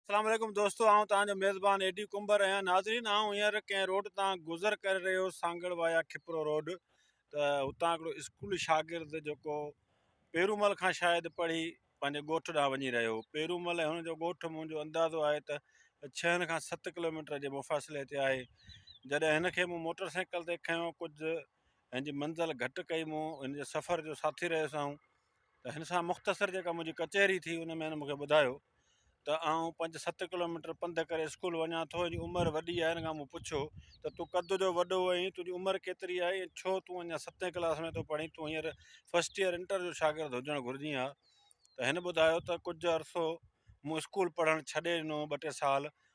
اسلام عليڪم دوستو آئون توهان جو ميزبان اي ڊي ڪنڀر آهيان ناظرين آئون هينئر ڪنهن روڊ تان گذر ڪري رهيو سانگڙ وايا کپرو روڊ ته هتان هڪڙو اسڪول شاگرد جيڪو پيرومل کان شايد پڙهي پنهنجي ڳوٺ ڏانهن وڃي رهيو هو پيرومل ۽ هن جو ڳوٺ منهنجو اندازو آهي ته ڇهن کان ست ڪلوميٽر جي مفاصلي تي آهي جڏهن هن کي مون موٽر سائيڪل تي کنيو ڪجهه هن جي منزل گهٽ ڪئي مون هن جي سفر جو ساٿي رهيس آئون ته هن سان مختصر جيڪا منهنجي ڪچهري ٿي ان ۾ هن مونکي ٻڌايو ته آئون پنج ست ڪلوميٽر پنڌ ڪري اسڪول وڃان ٿو هن جي عمر وڏي آهي هن کان مون پڇيو ته تون قد جو وڏو آهين تنهنجي عمر ڪيتري آهي ۽ ڇو تون اڃان ستين ڪلاس ۾ ٿو پڙهين تون هينئر فسٽ ايئر انٽر جو شاگرد هجڻ گهرجين ها ته هن ٻڌايو ته ڪجهه عرصو مون اسڪول پڙهڻ ڇڏي ڏنو ٻه ٽي سال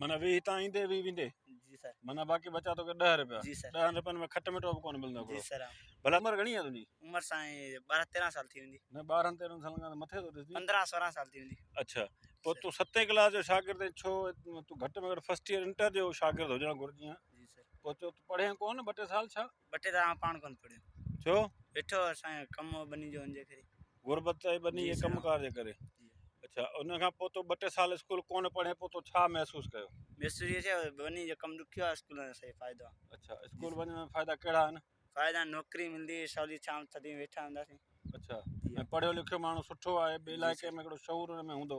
معنيٰ ويهه هتان ايندي ويهه ويندي جي سر معنيٰ باقي بچا توکي ڏهه رپيا جي سر ڏهن رپين ۾ کٽ مٺو به ڪونه ملندو جي هڪڙو سر ڀلا عمر گهڻي آهي تنهنجي عمر سائين ٻارهن تيرهن سال ٿي ويندي نه ٻارهن تيرهن سالن کان ته مٿي ٿو ڏسجي پندرهن سورهن سال ٿي ويندي اڇا پوء تون ستين ڪلاس جو شاگرد آهين ڇو تون گهٽ ۾ گهٽ فرسٽ ايئر انٽر جو شاگرد هجڻ گهرجي ها جي سر پوء تو پڙهين ڪونه ٻه ٽي سال ڇا ٻه ٽي دفعا آئون پاڻ ڪونه پڙهيو. ڇو؟ ويٺو هو سائين ڪم هو ٻني جو ان جي ڪري. غربت ۽ ٻني جي ڪم ڪار جي ڪري. اڇا ان کان پوء تو ٻه ٽي سال اسڪول ڪونه پڙهين پوء تو ڇا محسوس ڪيو؟ محسوس اهو ٿيو ٻني جو ڪم ڏکيو آهي اسڪول وڃڻ سائين فائدو آهي. اڇا اسڪول وڃڻ ۾ فائدا ڪهڙا آهن؟ فائدا نوڪري ملندي سولي شام تڏهن ويٺا هونداسين. اڇا ۽ پڙهيو لکيو ماڻهو سٺو آهي ٻي علائقي ۾ هڪڙو شعور ان ۾ هوندو.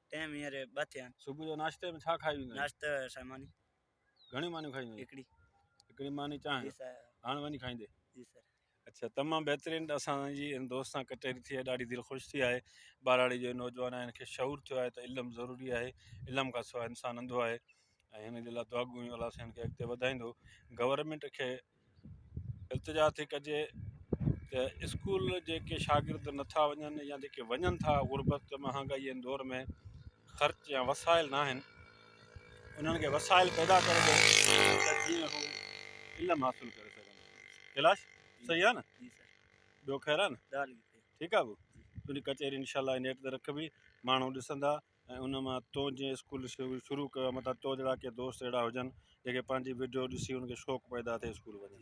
ٽيم هينئر ٻه ٿيا آهن. صبح جو ناشتي ۾ ڇا کائي ويندو آهين؟ ناشتي سائين ماني. گهڻيون مانيون کائيندو آهين؟ هڪڙي. هڪڙي ماني چانهه. جي سر. هاڻ وڃي کائيندي؟ جي سر. اڇا تمام بهترين اسان جي ان دوست سان ڪچهري ٿي آهي ڏاڍي دل خوش ٿي آهي ٻهراڙي جو نوجوان آهي ان کي شعور ٿيو آهي ته علم ضروري آهي علم کان سواء انسان انڌو آهي ۽ هن جي لاء دعا گوئيون الله سائين کي اڳتي وڌائيندو گورنمنٽ کي التجا ٿي ڪجي ته اسڪول جيڪي شاگرد نٿا وڃن يا جيڪي وڃن ٿا غربت مهانگائي جي دور ۾ خرچ يا وسائل نه آهن انهن کي وسائل پيدا ڪري ڏئي ته جيئن هو علم حاصل ڪري سگهن ڪيلاش صحيح آهي نه ٻيو خير آهي نه ٺيڪ آهي تنهنجي ڪچهري انشاء الله نيٽ تي رکبي ماڻهو ڏسندا ۽ ان مان تون جيئن اسڪول شروع ڪيو متان تو جھڙا ڪي دوست اھڙا ھجن جيڪي پنھنجي وڊيو ڏسي انھن کي شوق پيدا ٿئي اسڪول وڃڻ